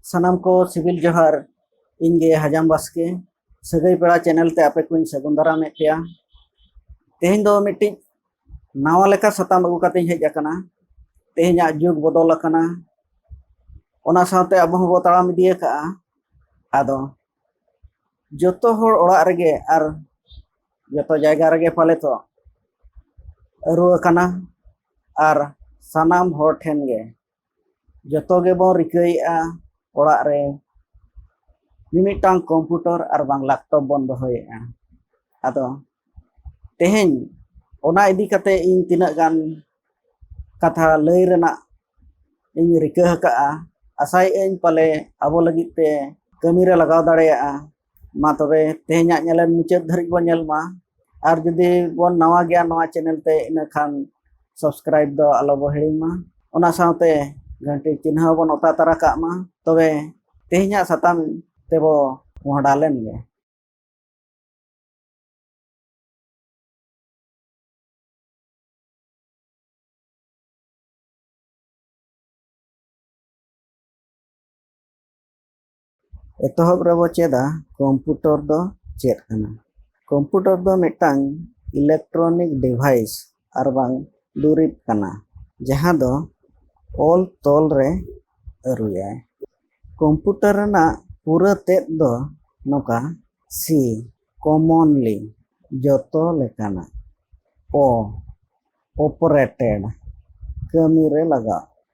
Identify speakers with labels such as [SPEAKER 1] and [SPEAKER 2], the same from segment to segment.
[SPEAKER 1] ᱥᱟᱱᱟᱢ ᱠᱚ ᱥᱤᱵᱤᱞ ᱡᱚᱦᱟᱨ ᱤᱧ ᱜᱮ ᱦᱟᱡᱟᱢ ᱵᱟᱥᱠᱮ ᱥᱟᱹᱜᱟᱹᱭ ᱯᱮᱲᱟ ᱪᱮᱱᱮᱞ ᱛᱮ ᱟᱯᱮ ᱠᱚᱧ ᱥᱟᱹᱜᱩᱱ ᱫᱟᱨᱟᱢᱮᱫ ᱯᱮᱭᱟ ᱛᱮᱦᱮᱧ ᱫᱚ ᱢᱤᱫᱴᱤᱡ ᱱᱟᱣᱟ ᱞᱮᱠᱟ ᱥᱟᱛᱟᱢ ᱟᱹᱜᱩ ᱠᱟᱛᱮᱧ ᱦᱮᱡ ᱟᱠᱟᱱᱟ ᱛᱮᱦᱮᱧᱟᱜ ᱡᱩᱜᱽ ᱵᱚᱫᱚᱞ ᱟᱠᱟᱱᱟ ᱚᱱᱟ ᱥᱟᱶᱛᱮ ᱟᱵᱚ ᱦᱚᱸᱵᱚ ᱛᱟᱲᱟᱢ ᱤᱫᱤ ᱟᱠᱟᱜᱼᱟ ᱟᱫᱚ ᱡᱚᱛᱚ ᱦᱚᱲ ᱚᱲᱟᱜ ᱨᱮᱜᱮ ᱟᱨ ᱡᱚᱛᱚ ᱡᱟᱭᱜᱟ ᱨᱮᱜᱮ ᱯᱟᱞᱮ ᱛᱚ ᱟᱹᱨᱩ ᱟᱠᱟᱱᱟ ᱟᱨ ᱥᱟᱱᱟᱢ ᱦᱚᱲ ᱴᱷᱮᱱ ᱜᱮ ᱡᱚᱛᱚ ᱜᱮᱵᱚᱱ ᱨᱤᱠᱟᱹᱭᱮᱫᱼᱟ ᱚᱲᱟᱜ ᱨᱮ ᱢᱤᱢᱤᱫᱴᱟᱝ ᱠᱚᱢᱯᱤᱭᱩᱴᱟᱨ ᱟᱨ ᱵᱟᱝ ᱞᱮᱯᱴᱚᱯ ᱵᱚᱱ ᱫᱚᱦᱚᱭᱮᱫᱼᱟ ᱟᱫᱚ ᱛᱮᱦᱮᱧ ᱚᱱᱟ ᱤᱫᱤ ᱠᱟᱛᱮ ᱤᱧ ᱛᱤᱱᱟᱹᱜ ᱜᱟᱱ ᱠᱟᱛᱷᱟ ᱞᱟᱹᱭ ᱨᱮᱱᱟᱜ ᱤᱧ ᱨᱤᱠᱟᱹ ᱟᱠᱟᱫᱼᱟ ᱟᱥᱟᱭᱮᱫ ᱟᱹᱧ ᱯᱟᱞᱮ ᱟᱵᱚ ᱞᱟᱹᱜᱤᱫ ᱛᱮ ᱠᱟᱹᱢᱤᱨᱮ ᱞᱟᱜᱟᱣ ᱫᱟᱲᱮᱭᱟᱜᱼᱟ ᱢᱟ ᱛᱚᱵᱮ ᱛᱮᱦᱮᱧᱟᱜ ᱧᱮᱞᱮᱱ ᱢᱩᱪᱟᱹᱫ ᱫᱷᱟᱹᱨᱤᱡ ᱵᱚᱱ ᱧᱮᱞ ᱢᱟ ᱟᱨ ᱡᱩᱫᱤ ᱵᱚᱱ ᱱᱟᱣᱟ ᱜᱮᱭᱟ ᱱᱚᱣᱟ ᱪᱮᱱᱮᱞ ᱛᱮ ᱤᱱᱟᱹᱠᱷᱟᱱ ᱥᱟᱵᱥᱠᱨᱟᱭᱤᱵ ᱫᱚ ᱟᱞᱚ ᱵᱚ ᱦᱤᱲᱤᱧ ᱢᱟ ᱚᱱᱟ ᱥᱟᱶᱛᱮ ᱜᱷᱟᱹᱱᱴᱤ ᱪᱤᱱᱦᱟᱹ ᱵᱚᱱ ᱚᱛᱟ ᱛᱟᱨᱟ ᱠᱟᱜ ᱢᱟ ᱛᱚᱵᱮ ᱛᱮᱦᱮᱧᱟᱜ ᱥᱟᱛᱟᱢ ᱛᱮᱵᱚ ᱢᱚᱦᱰᱟ ᱞᱮᱱ ᱜᱮ ᱮᱛᱚᱦᱚᱵ ᱨᱮᱵᱚ ᱪᱮᱫᱟ ᱠᱚᱢᱯᱩᱴᱚᱨ ᱫᱚ ᱪᱮᱫ ᱠᱟᱱᱟ ᱠᱚᱢᱯᱩᱴᱚᱨ ᱫᱚ ᱢᱤᱫᱴᱟᱝ ᱤᱞᱮᱠᱴᱨᱚᱱᱤᱠ ᱰᱤᱵᱷᱟᱭᱤᱥ ᱟᱨ ᱵᱟᱝ ᱫᱩᱨᱤᱵ ᱠᱟᱱᱟ ᱡᱟᱦᱟᱸ ᱫᱚ ᱚᱞ ᱛᱚᱞ ᱨᱮ ᱟᱹᱨᱩᱭᱟᱭ ᱠᱚᱢᱯᱩᱴᱚᱨ ᱨᱮᱱᱟᱜ ᱯᱩᱨᱟᱹ ᱛᱮᱫ ᱫᱚ ᱱᱚᱝᱠᱟ ᱥᱤ ᱠᱚᱢᱚᱱᱞᱤ ᱡᱚᱛᱚ ᱞᱮᱠᱟᱱᱟᱜ ᱚ ᱚᱯᱟᱨᱮᱴᱮᱰ ᱠᱟᱹᱢᱤ ᱨᱮ ᱞᱟᱜᱟᱜ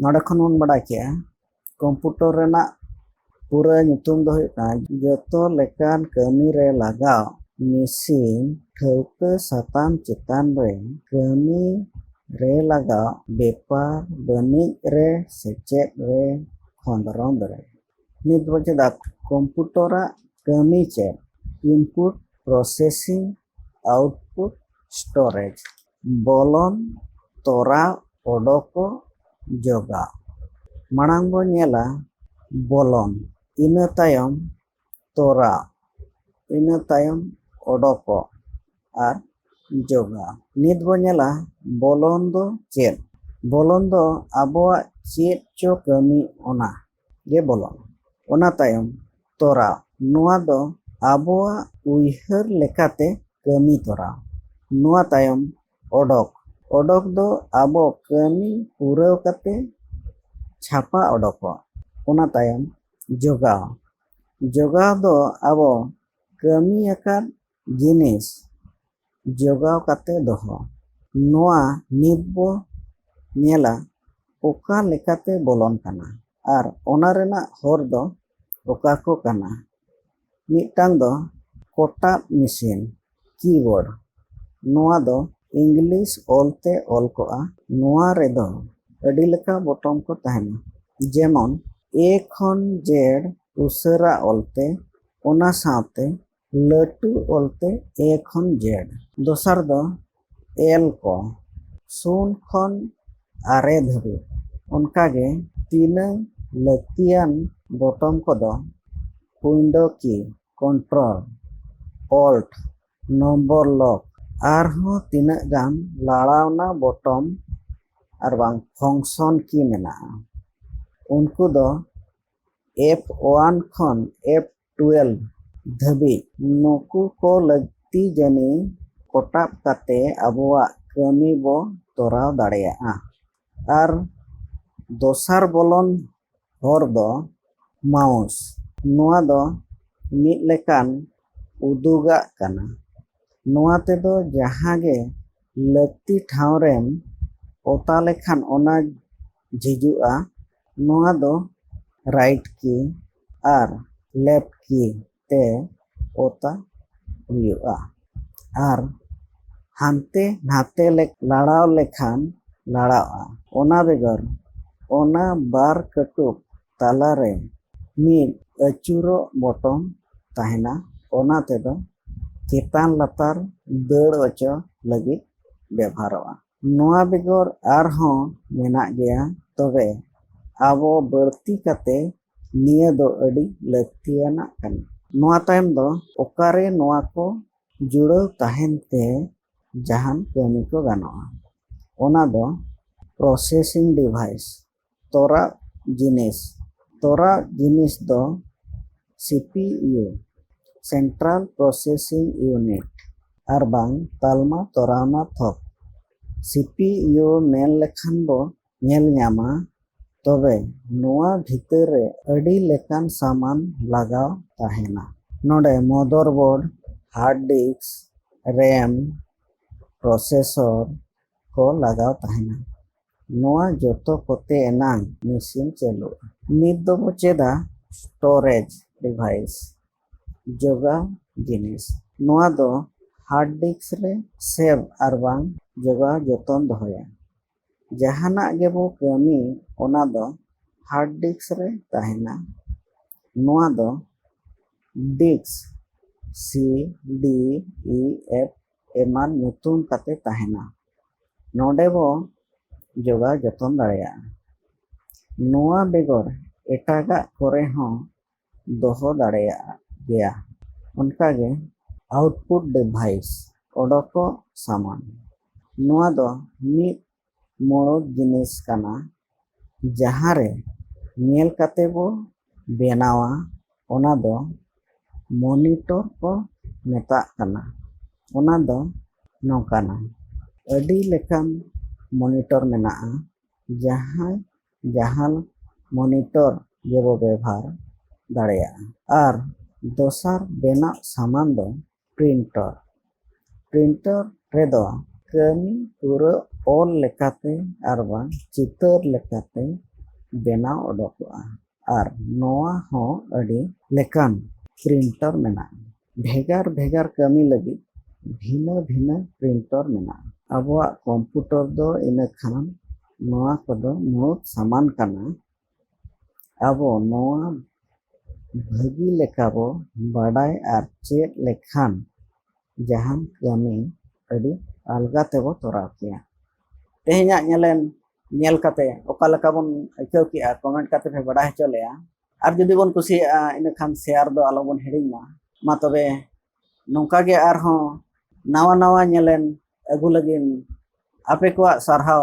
[SPEAKER 1] ᱱᱚᱰᱮ ᱠᱷᱚᱱ ᱵᱚᱱ ᱵᱟᱰᱟᱭ ᱠᱮᱜᱼᱟ ᱠᱚᱢᱯᱩᱴᱚᱨ ᱨᱮᱱᱟᱜ ᱯᱩᱨᱟᱹ ᱧᱩᱛᱩᱢ ᱫᱚ ᱦᱩᱭᱩᱜ ᱠᱟᱱᱟ ᱡᱚᱛᱚ ᱞᱮᱠᱟᱱ ᱠᱟᱹᱢᱤ ᱨᱮ ᱞᱟᱜᱟᱣ ᱢᱮᱥᱤᱱ ᱴᱷᱟᱹᱣᱠᱟᱹ ᱥᱟᱛᱟᱢ ᱪᱮᱛᱟᱱ ᱨᱮ ᱠᱟᱹᱢᱤ ᱨᱮ ᱞᱟᱜᱟᱣ ᱵᱮᱯᱟᱨ ᱵᱟᱹᱱᱤᱡ ᱨᱮ ᱥᱮᱪᱮᱫ ᱨᱮ ᱠᱷᱚᱸᱫᱽᱨᱚᱸᱫᱽ ᱨᱮ ᱱᱤᱛ ᱵᱚᱱ ᱪᱮᱫᱟ ᱠᱚᱢᱯᱩᱴᱚᱨᱟᱜ ᱠᱟᱹᱢᱤ ᱪᱮᱫ ᱤᱱᱯᱩᱴ ᱯᱨᱚᱥᱮᱥᱤᱝ ᱟᱣᱩᱴᱯᱩᱴ ᱥᱴᱳᱨᱮᱡᱽ ᱵᱚᱞᱚᱱ ᱛᱚᱨᱟ ᱚᱰᱚᱠᱚ ᱡᱚᱜᱟ ᱢᱟᱲᱟᱝ ᱵᱚ ᱧᱮᱞᱟ ᱵᱚᱞᱚᱱ ᱤᱱᱟᱹ ᱛᱟᱭᱚᱢ ᱛᱚᱨᱟ ᱤᱱᱟᱹ ᱛᱟᱭᱚᱢ ᱚᱰᱚᱠᱚᱜ ᱟᱨ ᱡᱚᱜᱟ ᱱᱤᱛ ᱵᱚ ᱧᱮᱞᱟ ᱵᱚᱞᱚᱱ ᱫᱚ ᱪᱮᱫ ᱵᱚᱞᱚᱱ ᱫᱚ ᱟᱵᱚᱣᱟᱜ ᱪᱮᱫ ᱪᱚ ᱠᱟᱹᱢᱤ ᱚᱱᱟ ᱜᱮ ᱵᱚᱞᱚᱱᱟ ᱚᱱᱟ ᱛᱟᱭᱚᱢ ᱛᱚᱨᱟᱣ ᱱᱚᱣᱟ ᱫᱚ ᱟᱵᱚᱣᱟᱜ ᱩᱭᱦᱟᱹᱨ ᱞᱮᱠᱟᱛᱮ ᱠᱟᱹᱢᱤ ᱛᱚᱨᱟᱣ ᱱᱚᱣᱟ ᱛᱟᱭᱚᱢ ᱚᱰᱚᱠ ᱚᱰᱚᱠ ᱫᱚ ᱟᱵᱚ ᱠᱟᱹᱢᱤ ᱯᱩᱨᱟᱹᱣ ᱠᱟᱛᱮ ᱪᱷᱟᱯᱟ ᱚᱰᱚᱠᱚᱜ ᱚᱱᱟ ᱛᱟᱭᱚᱢ ᱡᱚᱜᱟᱣ ᱡᱚᱜᱟᱣ ᱫᱚ ᱟᱵᱚ ᱠᱟᱹᱢᱤ ᱟᱠᱟᱫ ᱡᱤᱱᱤᱥ ᱡᱚᱜᱟᱣ ᱠᱟᱛᱮ ᱫᱚᱦᱚ ᱱᱚᱣᱟ ᱱᱤᱛ ᱵᱚ ᱧᱮᱞᱟ ᱚᱠᱟ ᱞᱮᱠᱟᱛᱮ ᱵᱚᱞᱚᱱ ᱠᱟᱱᱟ ᱟᱨ ᱚᱱᱟ ᱨᱮᱱᱟᱜ ᱦᱚᱨ ᱫᱚ ᱚᱠᱟ ᱠᱚ ᱠᱟᱱᱟ ᱢᱤᱫᱴᱟᱝ ᱫᱚ ᱠᱚᱴᱟᱵ ᱢᱮᱥᱤᱱ ᱠᱤᱵᱳᱨᱰ ᱱᱚᱣᱟ ᱫᱚ ᱤᱝᱞᱤᱥ ᱚᱞ ᱛᱮ ᱚᱞ ᱠᱚᱜᱼᱟ ᱱᱚᱣᱟ ᱨᱮᱫᱚ ᱟᱹᱰᱤ ᱞᱮᱠᱟ ᱵᱚᱴᱚᱢ ᱠᱚ ᱛᱟᱦᱮᱱᱟ ᱡᱮᱢᱚᱱ ᱮ ᱠᱷᱚᱱ ᱡᱮᱰ ᱩᱥᱟᱹᱨᱟ ᱚᱞ ᱛᱮ ᱚᱱᱟ ᱥᱟᱶᱛᱮ ᱞᱟᱹᱴᱩ ᱚᱞᱛᱮ ᱮ ᱠᱷᱚᱱ ᱡᱮᱰ ᱫᱚᱥᱟᱨ ᱫᱚ ᱮᱞ ᱠᱚ ᱥᱩᱱ ᱠᱷᱚᱱ ᱟᱨᱮ ᱫᱷᱟᱹᱵᱤᱡ ᱚᱱᱠᱟᱜᱮ ᱛᱤᱱᱟᱹᱝ ᱞᱟᱹᱠᱛᱤᱭᱟᱱ ᱵᱚᱴᱚᱢ ᱠᱚᱫᱚ ᱩᱭᱤᱱᱰᱳ ᱠᱤ ᱠᱚᱱᱴᱨᱳᱞ ᱚᱞᱴ ᱱᱚᱢᱵᱚᱨ ᱞᱚᱠ ᱟᱨᱦᱚᱸ ᱛᱤᱱᱟᱹᱜ ᱜᱟᱱ ᱞᱟᱲᱟᱣᱱᱟ ᱵᱚᱴᱚᱢ ᱟᱨ ᱵᱟᱝ ᱯᱷᱚᱝᱥᱚᱱ ᱠᱤ ᱢᱮᱱᱟᱜᱼᱟ ᱩᱱᱠᱩ ᱫᱚ ᱮᱯᱷ ᱚᱣᱟᱱ ᱠᱷᱚᱱ ᱮᱯᱷ ᱴᱩᱭᱮᱞᱵᱷ ᱫᱷᱟᱹᱵᱤᱡ ᱱᱩᱠᱩ ᱠᱚ ᱞᱟᱹᱠᱛᱤ ᱡᱟᱹᱱᱤ ᱠᱚᱴᱟᱵ ᱠᱟᱛᱮ ᱟᱵᱚᱣᱟᱜ ᱠᱟᱹᱢᱤ ᱵᱚ ᱛᱚᱨᱟᱣ ᱫᱟᱲᱮᱭᱟᱜᱼᱟ ᱟᱨ ᱫᱚᱥᱟᱨ ᱵᱚᱞᱚᱱ ᱦᱚᱨ ᱫᱚ ᱢᱟᱣᱩᱥ ᱱᱚᱣᱟ ᱫᱚ ᱢᱤᱫ ᱞᱮᱠᱟᱱ ᱩᱫᱩᱜᱟᱜ ᱠᱟᱱᱟ ᱱᱚᱣᱟ ᱛᱮᱫᱚ ᱡᱟᱦᱟᱸ ᱜᱮ ᱞᱟᱹᱠᱛᱤ ᱴᱷᱟᱶ ᱨᱮᱢ ᱚᱛᱟ ᱞᱮᱠᱷᱟᱱ ᱚᱱᱟ ᱡᱷᱤᱡᱚᱜᱼᱟ ᱱᱚᱣᱟ ᱫᱚ ᱨᱟᱭᱤᱴ ᱠᱤ ᱟᱨ ᱞᱮᱯᱷᱴ ᱠᱤ ᱛᱮ ᱚᱛᱟ ᱦᱩᱭᱩᱜᱼᱟ ᱟᱨ ᱦᱟᱱᱛᱮ ᱱᱷᱟᱛᱮ ᱞᱮ ᱞᱟᱲᱟᱣ ᱞᱮᱠᱷᱟᱱ ᱞᱟᱲᱟᱜᱼᱟ ᱚᱱᱟ ᱵᱮᱜᱚᱨ ᱚᱱᱟ ᱵᱟᱨ ᱠᱟᱹᱴᱩᱵ ᱛᱟᱞᱟ ᱨᱮ ᱢᱤᱫ ᱟᱹᱪᱩᱨᱚᱜ ᱵᱚᱴᱚᱢ ᱛᱟᱦᱮᱱᱟ ᱚᱱᱟ ᱛᱮᱫᱚ ᱪᱮᱛᱟᱱ ᱞᱟᱛᱟᱨ ᱫᱟᱹᱲ ᱚᱪᱚ ᱞᱟᱹᱜᱤᱫ ᱵᱮᱵᱷᱟᱨᱚᱜᱼᱟ ᱱᱚᱣᱟ ᱵᱮᱜᱚᱨ ᱟᱨᱦᱚᱸ ᱢᱮᱱᱟᱜ ᱜᱮᱭᱟ ᱛᱚᱵᱮ ᱟᱵᱚ ᱵᱟᱹᱲᱛᱤ ᱠᱟᱛᱮ ᱱᱤᱭᱟᱹ ᱫᱚ ᱟᱹᱰᱤ ᱞᱟᱹᱠᱛᱤᱭᱟᱱᱟᱜ ᱠᱟᱱᱟ᱾ ᱱᱚᱣᱟ ᱛᱟᱭᱚᱢ ᱫᱚ ᱚᱠᱟᱨᱮ ᱱᱚᱣᱟ ᱠᱚ ᱡᱩᱲᱟᱹᱣ ᱛᱟᱦᱮᱱ ᱛᱮ ᱡᱟᱦᱟᱱ ᱠᱟᱹᱢᱤ ᱠᱚ ᱜᱟᱱᱚᱜᱼᱟ ᱚᱱᱟ ᱫᱚ ᱯᱨᱚᱥᱮᱥᱤᱝ ᱰᱤᱵᱷᱟᱭᱤᱥ ᱛᱚᱨᱟᱜ ᱡᱤᱱᱤᱥ ᱛᱚᱨᱟᱜ ᱡᱤᱱᱤᱥ ᱫᱚ C P U central processing unit ᱟᱨ ᱵᱟᱝ ᱛᱟᱞᱢᱟ ᱛᱚᱨᱟᱣᱱᱟ ᱛᱷᱚᱠ ᱥᱤ ᱯᱤ ᱤᱭᱩ ᱢᱮᱱ ᱞᱮᱠᱷᱟᱱ ᱵᱚ ᱧᱮᱞ ᱧᱟᱢᱟ ᱛᱚᱵᱮ ᱱᱚᱣᱟ ᱵᱷᱤᱛᱟᱹᱨ ᱨᱮ ᱟᱹᱰᱤ ᱞᱮᱠᱟᱱ ᱥᱟᱢᱟᱱ ᱞᱟᱜᱟᱣ ᱛᱟᱦᱮᱱᱟ ᱱᱚᱰᱮ ᱢᱚᱫᱚᱨ ᱵᱳᱨᱰ ᱦᱟᱨᱰ ᱰᱤᱥᱠ ᱨᱮᱢ ᱯᱨᱚᱥᱮᱥᱚᱨ ᱠᱚ ᱞᱟᱜᱟᱣ ᱛᱟᱦᱮᱱᱟ ᱱᱚᱣᱟ ᱡᱚᱛᱚ ᱠᱚᱛᱮ ᱮᱱᱟᱝ ᱢᱮᱥᱤᱱ ᱪᱟᱹᱞᱩᱜᱼᱟ᱾ ᱱᱤᱛ ᱫᱚ ᱵᱚ ᱪᱮᱫᱟ ᱥᱴᱚᱨᱮᱡᱽ ᱰᱤᱵᱷᱟᱭᱤᱥ, ᱡᱚᱜᱟᱣ ᱡᱤᱱᱤᱥ᱾ ᱱᱚᱣᱟ ᱫᱚ ᱦᱟᱨᱰ ᱰᱤᱥᱠ ᱨᱮ ᱥᱮᱵᱷ ᱟᱨᱵᱟᱝ ᱡᱚᱜᱟᱣ ᱡᱚᱛᱚᱱ ᱫᱚᱦᱚᱭᱟ᱾ ᱡᱟᱦᱟᱱᱟᱜ ᱜᱮ ᱵᱚ ᱠᱟᱹᱢᱤ ᱚᱱᱟ ᱫᱚ ᱦᱟᱨᱰ ᱰᱤᱥᱠ ᱨᱮ ᱛᱟᱦᱮᱱᱟ᱾ ᱱᱚᱣᱟ ᱫᱚ disk C, D, E, F, ᱮᱢᱟᱱ ᱧᱩᱛᱩᱢ ᱠᱟᱛᱮ ᱛᱟᱦᱮᱱᱟ ᱱᱚᱰᱮ ᱵᱚ ᱡᱚᱜᱟᱣ ᱡᱚᱛᱚᱱ ᱫᱟᱲᱮᱭᱟᱜᱼᱟ ᱱᱚᱣᱟ ᱵᱮᱜᱚᱨ ᱮᱴᱟᱜᱟᱜ ᱠᱚᱨᱮ ᱦᱚᱸ ᱫᱚᱦᱚ ᱫᱟᱲᱮᱭᱟᱜᱼᱟ ᱜᱮᱭᱟ ᱚᱱᱠᱟᱜᱮ ᱟᱣᱩᱴᱯᱩᱴ ᱰᱤᱵᱷᱟᱭᱤᱥ ᱚᱰᱚᱠᱚᱜ ᱥᱟᱢᱟᱱ ᱱᱚᱣᱟ ᱫᱚ ᱢᱤᱫ ᱢᱩᱬᱩᱛ ᱡᱤᱱᱤᱥ ᱠᱟᱱᱟ ᱡᱟᱦᱟᱸ ᱨᱮ ᱧᱮᱞ ᱠᱟᱛᱮ ᱵᱚ ᱵᱮᱱᱟᱣᱟ ᱚᱱᱟ ᱫᱚ ᱢᱚᱱᱤᱴᱚᱨ ᱠᱚ ᱢᱮᱛᱟᱜ ᱠᱟᱱᱟ ᱚᱱᱟ ᱫᱚ ᱱᱚᱝᱠᱟᱱᱟ ᱟᱹᱰᱤ ᱞᱮᱠᱟᱱ ᱢᱚᱱᱤᱴᱚᱨ ᱢᱮᱱᱟᱜᱼᱟ ᱡᱟᱦᱟᱸᱭ ᱡᱟᱦᱟᱱ ᱢᱚᱱᱤᱴᱚᱨ ᱜᱮᱵᱚ ᱵᱮᱵᱷᱟᱨ ᱫᱟᱲᱮᱭᱟᱜᱼᱟ ᱟᱨ ᱫᱚᱥᱟᱨ ᱵᱮᱱᱟᱜ ᱥᱟᱢᱟᱱ ᱫᱚ ᱯᱨᱤᱱᱴᱚᱨ ᱯᱨᱤᱱᱴᱚᱨ ᱨᱮᱫᱚ ᱠᱟᱹᱢᱤ ᱯᱩᱨᱟᱹ ᱚᱞ ᱞᱮᱠᱟᱛᱮ ᱟᱨ ᱵᱟᱝ ᱪᱤᱛᱟᱹᱨ ᱞᱮᱠᱟᱛᱮ ᱵᱮᱱᱟᱣ ᱚᱰᱚᱠᱚᱜᱼᱟ ᱟᱨ ᱱᱚᱣᱟ ᱦᱚᱸ ᱟᱹᱰᱤ ᱞᱮᱠᱟᱱ ᱯᱨᱤᱱᱴᱚᱨ ᱢᱮᱱᱟᱜᱼᱟ ᱵᱷᱮᱜᱟᱨ ᱵᱷᱮᱜᱟᱨ ᱠᱟᱹᱢᱤ ᱞᱟᱹᱜᱤᱫ ᱵᱷᱤᱱᱟᱹ ᱵᱷᱤᱱᱟᱹ ᱯᱨᱤᱱᱴᱚᱨ ᱢᱮᱱᱟᱜᱼᱟ ᱟᱵᱚᱣᱟᱜ ᱠᱚᱢᱯᱩᱴᱚᱨ ᱫᱚ ᱤᱱᱟᱹ ᱠᱷᱟᱱ ᱱᱚᱣᱟ ᱠᱚᱫᱚ ᱢᱩᱬᱩᱛ ᱥᱟᱢᱟᱱ ᱠᱟᱱᱟ ᱟᱵᱚ ᱱᱚᱣᱟ ᱵᱷᱟᱹᱜᱤ ᱞᱮᱠᱟ ᱵᱚ ᱵᱟᱰᱟᱭ ᱟᱨ ᱪᱮᱫ ᱞᱮᱠᱷᱟᱱ ᱡᱟᱦᱟᱱ ᱠᱟᱹᱢᱤ ᱟᱹᱰᱤ ᱟᱞᱜᱟ ᱛᱮᱵᱚ ᱛᱚᱨᱟᱣ ᱠᱮᱭᱟ ᱛᱮᱦᱮᱧᱟᱜ ᱧᱮᱞᱮᱱ ᱧᱮᱞ ᱠᱟᱛᱮ ᱚᱠᱟ ᱞᱮᱠᱟ ᱵᱚᱱ ᱟᱹᱭᱠᱟᱹᱣ ᱠᱮᱜᱼᱟ ᱠᱚᱢᱮᱱᱴ ᱠᱟᱛᱮ ᱯᱮ ᱵᱟᱰᱟᱭ ᱦᱚᱪᱚ ᱞᱮᱭᱟ ᱟᱨ ᱡᱩᱫᱤ ᱵᱚᱱ ᱠᱩᱥᱤᱭᱟᱜᱼᱟ ᱤᱱᱟᱹᱠᱷᱟᱱ ᱥᱮᱭᱟᱨ ᱫᱚ ᱟᱞᱚᱵᱚᱱ ᱦᱤᱲᱤᱧ ᱢᱟ ᱢᱟ ᱛᱚᱵᱮ ᱱᱚᱝᱠᱟ ᱜᱮ ᱟᱨᱦᱚᱸ ᱱᱟᱣᱟ ᱱᱟᱣᱟ ᱧᱮᱞᱮᱱ ᱟᱹᱜᱩ ᱞᱟᱹᱜᱤᱫ ᱟᱯᱮ ᱠᱚᱣᱟᱜ ᱥᱟᱨᱦᱟᱣ